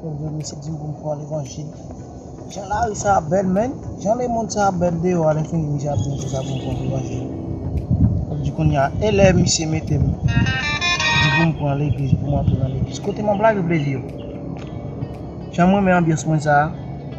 Bon Dieu mesi di pou mkwa levanjil. Jan lari sa a bèl menn, jan lemond sa a bèl deyò a lèfini misye ap diw sesa poum pran levanjil wap di kounya elè misye metem di poum pran legliz poum antre nan legliz kote map lage plezi yo janm renmen anbyans mwen sa a.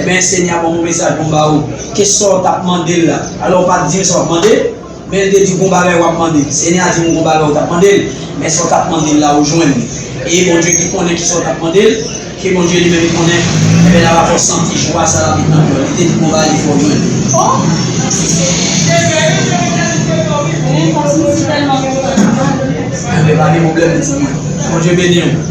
Amen Senyè a ban mwen mesaj pou m ba ou. Ke sa w t ap mande l la. Alò, ou pa t di l sa w ap mande l, men l te di w gon bagay w ap mande l. Senyè a di m ou gon bagay ou t ap mande l, men sa w t ap mande l la ou jwenn li. E Bondye ki konnen ki sa w t ap mande l, ke Bondye li menm li konnen, enben l ava fè w santi jwa sa l ap met nan kè w. Li te di gon bagay li fè w jwenn li. Enben pa gen pwoblèm m di mwen. Bondye beni w.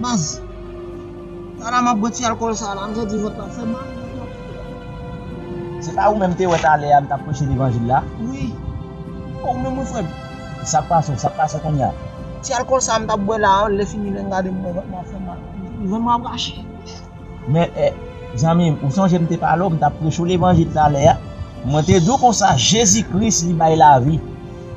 Baz. Sa la map bwè ti alkòl sa la, m santi vant la ap fèm mal. Se pa ou menm m te wè talè a m tap preche levanjil la? Wi. Bon ou menm wi frè m. Sak pase w, sak pase w kounya? Ti alkòl sa a m tap bwè la, lè fini lè m gade m wè vant mwen ap fèm mal. Vant mwen ap rache. Men, zanmi m, ou sonje m te pale w, m t ap preche w levanjil talè a, mwen te di w konsa, Jezi Kris li bay lavi.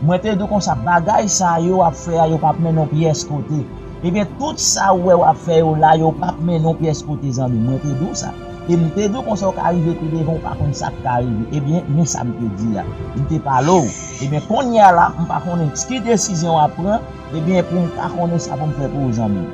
Mwen te di w konsa, bagay sa yo w ap fè a yo p ap mennen w pyès kote. Ebyen, tout sa ou wè w ap fè yo la, yo p ap mennen w pyès kote zanmi m. Mwen te di w sa. E m te di w konsa ou ka rive pi devan ou pa konn sa k ka rive. Ebyen, men sa m te di a. M te pale w. Ebyen, kounye a la, m pa konnen ki desizyon w ap pran, ebyen pou m ka konnen sa pou m fè pou ou zanmi m.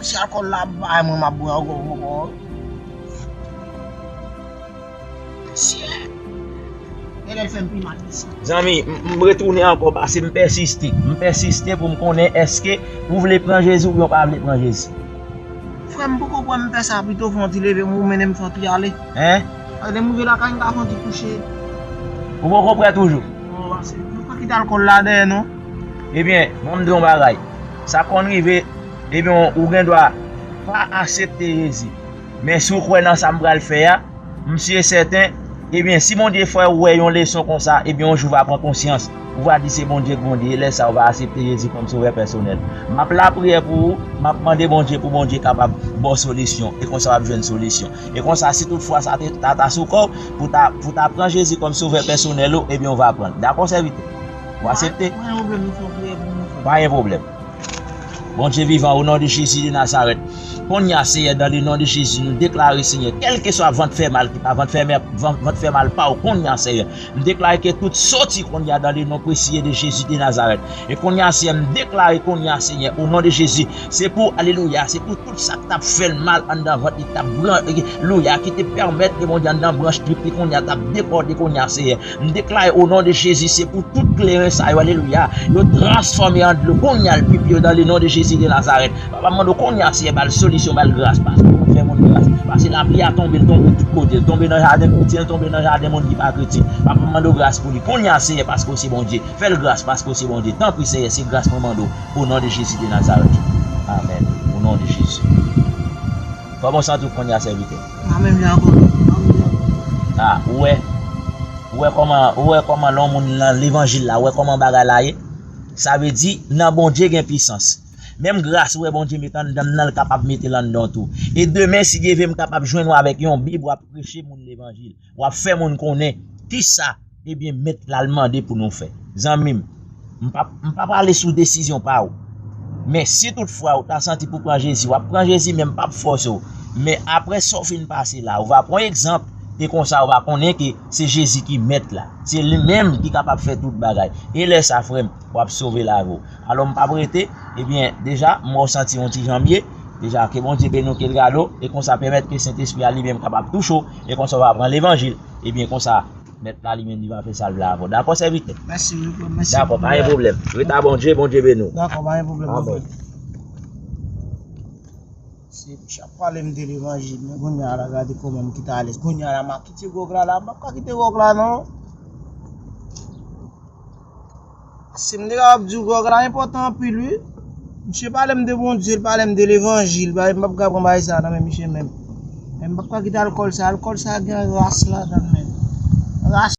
Si alcool la ap bay mwen map bwe anko mwen poko wè. Siye. E lèl fèm pi mal isi. Zanmi, m retounen anko pase m pèsiste. M pèsiste pou m konnen eske ou vle pran Jezi oubyen ou pa vle pran Jezi. Frèm poko kwè m fè sa pito fon ti leve m ou mennen m fon ti ale. Hein? Paske lèm rive lakay m ka fon ti kouche. Ou poko prè toujou? Non pase. M poko kite alcool la dèyè non. Ebyen, bon m di w yon bagay. Sa konn rive, ebyen ou gen dwa pa asepte Jezi. Men si w kwè nan sa m pral fè a, m si e sèten, ebyen si Bondye fè ou wè yon leson konsa, ebyen yon jou w va pran konsyans, ou va di se Bondye k Bondye, e lè sa a ou va asepte Jezi kòm sovè pèsonèl. M ap lapriyè pou ou, m ap mande Bondye pou Bondye kapab ba w solisyon, e konsa w ap jwenn solisyon. E konsa si tout fwa sa ta sou kò w, pou w ta pran Jezi kòm sovè pèsonèl ou, ebyen ou va pran l. Dakò sèvitè? Ou asepte? Pa gen problem nou fon priyè pou nou. Pa gen problem. Bondye vivan o non de Jezi de Nazarèt konnya Senyè dan le non de Jezi nou deklare Senyè kelke swa vant fè mal ki pa vant fè mè vant fè mal pa ou konnya Senyè m deklare ke tout soti konnya dan le non presiye de Jezi de Nazarèt e konnya Senyè m deklare konnya Senyè o non de Jezi se pou alelouya se pou tout sak tap fèl mal anndan vant li tap bran louya ki te pèmèt e Bondye anndan branch trip li konnya tap dekòde konnya Senyè M deklare o non de Jezi se pou tout kleren sa yo alelouya yo transfòme an dlo kounya al pipi yo nan le non de Jezi de Nazarèt papa m mande w kounya Seyè bal solisyon bal gras paske ou fè moun gras pase lapli a tonbe l tonbe tout kote l tonbe nan jaden koutyen l tonbe nan jaden moun ki pa kretyen papa m mande w gras pou li kounya Seyè paske w se Bondye fè l gras paske w se Bondye tanpri Seyè se gras mwen mande w o non de Jezi de Nazarèt amèn o non de Jezi kòman w santi w kounya sèvitè. Pa menm jan ak lòt anm yo. Ah ou wè ou wè kòman ou wè kòman lè yon moun nan levanjil la ou wè kòman bagay la ye sa vle di nan Bondye gen pisans menm gras ou wè Bondye met anndan m nan l kapab mete l anndan w tou e demen si Dye vle m kapab jwenn w avèk yon bib w ap preche moun levanjil. Wap fè moun konnen kisa ebyen mèt la mande pou nou fè. Zanmim, m pa pale sou desizyon pa ou. Men si tout fwa ou ta santi pou pran Jezi, wap pran Jezi men m pap fòse ou. Men aprè sa ou fin pase la, ou va pran egzanp e konsa ou va konnen ke se Jezi ki mèt la. Se li menm ki kapab fè tout bagay. E lè sa frèm, wap sove lavi ou. Alò m pap rete, ebyen deja m wè ou santi yon ti jan mye, deja ke Bondye beni w ke l gade w e konsa pèmèt ke Sentespri a li menm kapab touche w. E konsa w va pran levanjil. Ebyen konsa mèt la li menm li va fè sa l vle avè w. Dakò sèvitè? Dakò pa gen pwoblèm. Ret a Bondye, Bondye beni w. Dakò pa gen pwoblèm anpil. Amen. Se bouch ap pale m de levanjil men kounya la gade kòman m kite alèz. Kounya la ma kite gwòg la la. M pap ka kite gwòg la non. Sim te kapab diw Gròg la enpòtan anpil wi Misye palem de Bondye li palem de levanjil bagay m pap ka pran bagay sa nan men misye menm Men m pap ka kite alkòl sa alkòl sa gen ras ladann menn Ras